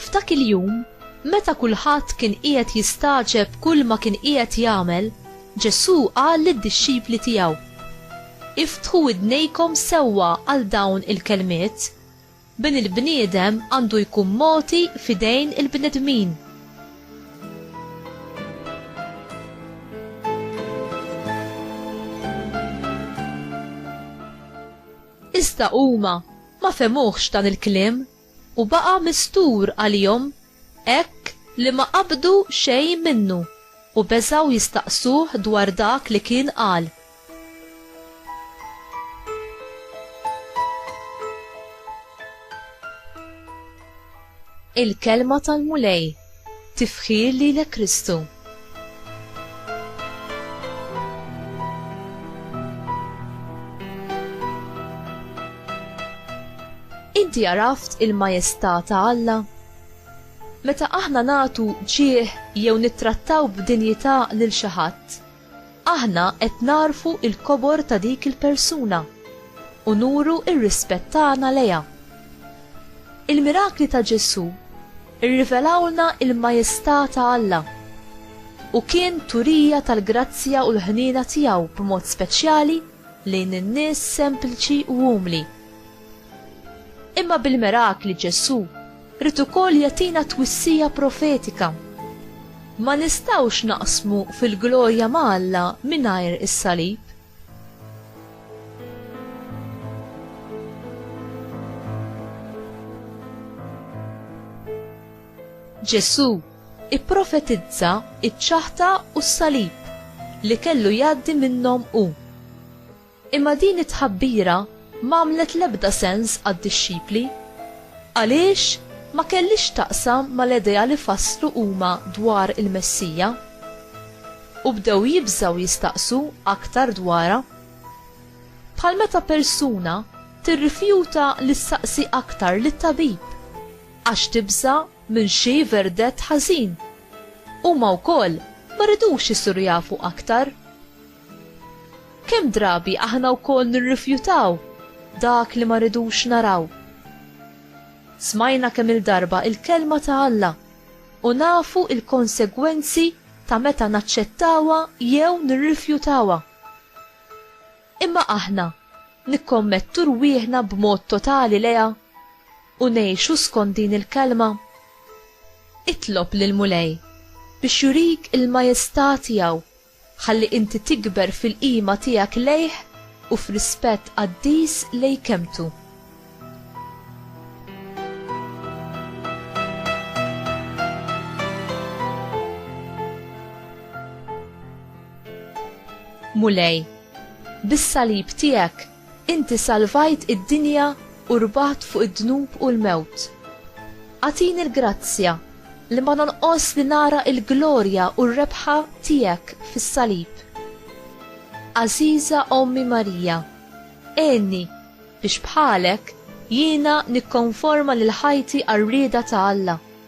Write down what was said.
F'dak il-jum, meta kulħadd kien qiegħed jistagħġeb kull ma kien qiegħed jagħmel, Ġesù qal lid-dixxipli tiegħu: Iftħu idnejkom sewwa għal dawn il-kelmiet. Bin il-bniedem għandu jkun mogħti f'idejn il-bnedmin. Iżda huma ma fehmuhx dan il-kliem, u baqa' mistur għalihom hekk li ma qabdu xejn minnu u beżgħu jistaqsuh dwar dak li kien qal. Il-Kelma tal-Mulej, Tifħir lilek Kristu. Inti għaraft il-majestà ta' Alla? Meta aħna nagħtu ġieħ jew nittrattaw b'dinjità lil xi ħadd, Aħna qed nagħrfu l-kobor ta' dik il-persuna u nuru r-rispett tagħna lejha. Il-mirakli ta' Ġesù rrivelawlna l-majestà ta' Alla, u kien turija tal-grazzja u l-ħniena tiegħu b'mod speċjali lejn in-nies sempliċi u umli. Imma bil-mirakli Ġesù ried ukoll jagħtina twissija profetika. Ma nistgħux naqsmu fil-glorja ma' Alla mingħajr is-salib. Ġesù ipprofetizza ċ-ċaħta u s-salib li kellu jgħaddi minnhom hu. Imma din it-tħabbira m'għamlet l-ebda sens għad-dixxipli. Għaliex? Ma kellhiex x'taqsam mal-idea li fasslu huma dwar il-Messija. U bdew jibżgħu jistaqsu aktar dwarha. Bħal meta persuna tirrifjuta li ssaqsi aktar lit-tabib għax tibża' minn xi verdett ħażin. Huma wkoll ma ridux isiru jafu aktar. Kemm drabi aħna wkoll nirrifjutaw dak li ma rridux naraw. Smajna kemm-il darba il-Kelma ta' Alla u nafu l-konsegwenzi ta' meta naċċettawha jew nirrifjutawha. Imma aħna nikkommettu rwieħna b'mod totali lejha u ngħixu skont din il-Kelma? Itlob lill-Mulej biex jurik il-majesità tiegħu Ħalli inti tikber fil-qima tiegħek lejh u f'rispett qaddis lejn kelmtu. Mulej, bis-salib tiegħek Inti salvajt id-dinja u rbaħt fuq id-dnub u l-mewt. Agħtini l-grazzja li ma nonqosx li nara l-glorja u r-rebħa Tiegħek fis-Salib. Għażiża Ommi Marija, għinni biex bħalek jiena nikkonforma lil ħajti għar-rieda ta' Alla.